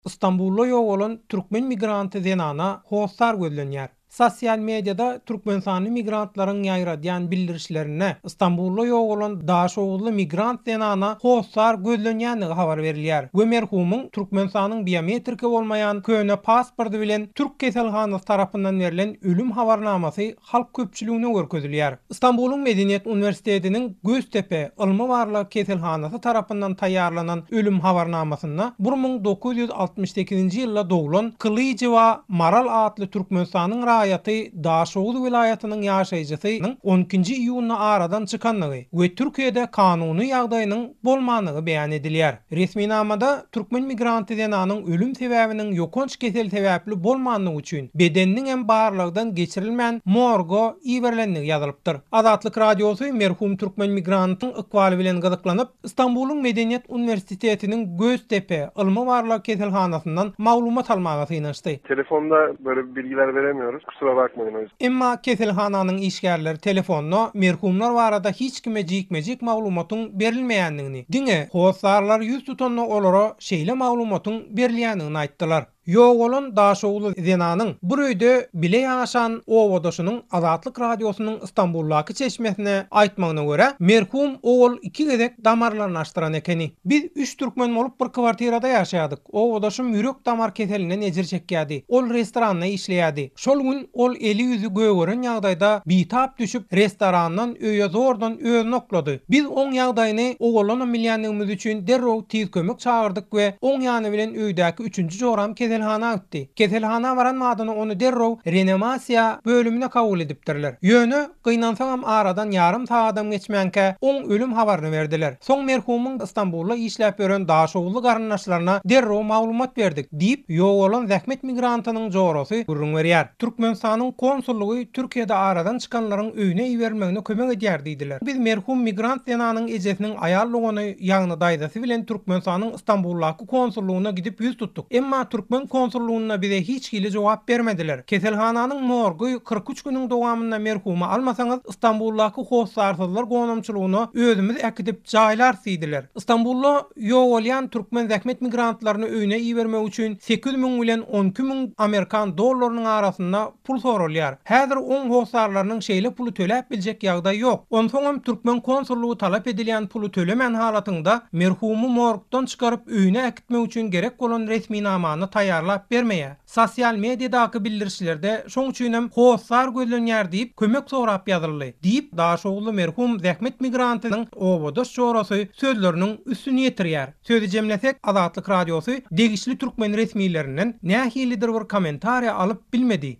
Stambulda ýogalan türkmen migranty zenana hossar gözlenýär. Sosial mediada türkmenistanly migrantlaryň ýaýradýan bildirişlerinde Stambulda ýogalan daşoguzly migrant zenana hossar gözlenýändigi habar berilýär we merhumyň Türkmenistanyň biometriki bolmaýan köne pasporty bilen türk keselhanasy tarapyndan berlen ölüm habarnamasy halk köpçüligine görkezilýär. Stambulyň Medeniýet uniwersitetiniň Göztepe ylmy-barlag keselhanasy tarapyndan taýýarlanan ölüm habarnamasynda bir müň dokuz ýüz altmyş sekizinji ýylda doglan Kylyjowa Maral atly Türkmenistanyň raýaty Daşoguz welaýatynyň ýaşaýjysynyň on ikinji iýunda aradan çykandygy we Türkiýede kanuny ýagdaýynyň bolmandygy beýan edilýär. Resminamada türkmen migranty zenanyň ölüm sebäbiniň ýokanç kesel sebäpli bolmandygy üçin bedeniniň hem barlagdan geçirilmän morga iberilendigi ýazylypdyr. Azatlyk Radiosy merhum türkmen migrantyň ykbaly bilen gyzyklanyp, Stambulyň Medeniýet uniwersitetiniň Göztepe ylmy-barlag keselhanasyndan maglumat almaga synanyşdy. Telefonda böyle bilgiler veremiyoruz. Kusura bakmayın o yüzden. Emma keselhananyň işgärleri telefonda merhumlar barada hiç kime jikme-jik maglumatyň berilmeýändigini, Diňe hossarlar ýüz tutanda olara şeýle maglumatyň berilýändigini aýtdylar. Ýok bolan daşoguzly zenanyň bir öýde bile ýaşan obadaşynyň Azatlyk Radiosynyň Stambuldaky çeşmesine aýtmagyna görä, merhum owal iki gezek damarlaryny açdyran ekeni. Biz üç türkmen bolup bir kwartirada ýaşaýardyk. Obadaşym ýürek-damar keselinden ejir çekýärdi. Ol restoranda işleýärdi. Şol gün Ol eli-ýüzi gögeren ýagdaýda bitap düşüp, restorandan öýe zordan özüni oklady. Biz oň ýagdaýyny owalanam bilýändigimiz üçin derrew tiz kömek çagyrdyk we oň ýany bilen öýdäki üçünji joram keselhana gitdi. Keselhana baran badyna ony derrew renamasiýa bölümine kabul edipdirler. Ýöne Gynansaňam aradan ýarym sagadam geçmänkä oň ölüm habaryny berdiler. Soň merhumyň Stambulda işläp ýören daşoguzly garyndaşlaryna derrew maglumat berdik, diýip, ýogalan zähmet migrantynyň jorasy gürrüň berýär. Türkmenistanyň konsullygy Türkiýede aradan çykanlaryň öýüne iberilmegine kömek edýär diýdiler. Biz merhum migrant zenanyň ejesiniň aýal dogany, ýagny daýzasy bilen Türkmenistanyň Stambuldaky konsullygyna gidip ýüz tutduk. Emma türkmen konsullygynda bize hiç hili jogap bermediler. Keselhananyň morgy kyrk üç günüň dowamynda merhumy almasaňyz, Stambuldaky hossarsyzlar gonamçylygyna özümiz äkidip jaýlarys diýdiler. Stambulda ýogalýan türkmen zähmet migrantlaryny öýüne ibermek üçin sekiz müň bilen on iki müň amerikan dollarynyň arasynda pul soralýar. Häzir oň hossarlarynyň şeýle puly töläp biljek ýagdaýy ýok. Onsoňam türkmen konsullygy talap edilýän puly tölemän halatyňda merhumy morgdan çykaryp öýüne äkitmek üçin gerek bolan resminamany taýýarlap bermeýär. Sosial mediadaky bildirişlerde şoň üçinem hossar gözlenýär diýip kömek sorap ýazyldy, diýip, daşoguzly merhum zähmet migrantynyň obadaş jorasy sözleriniň üstüni ýetirýär. Sözi jemlesek, Azatlyk Radiosy degişli türkmen resmilerinden nähilidir bir kommentariýa alyp bilmedi.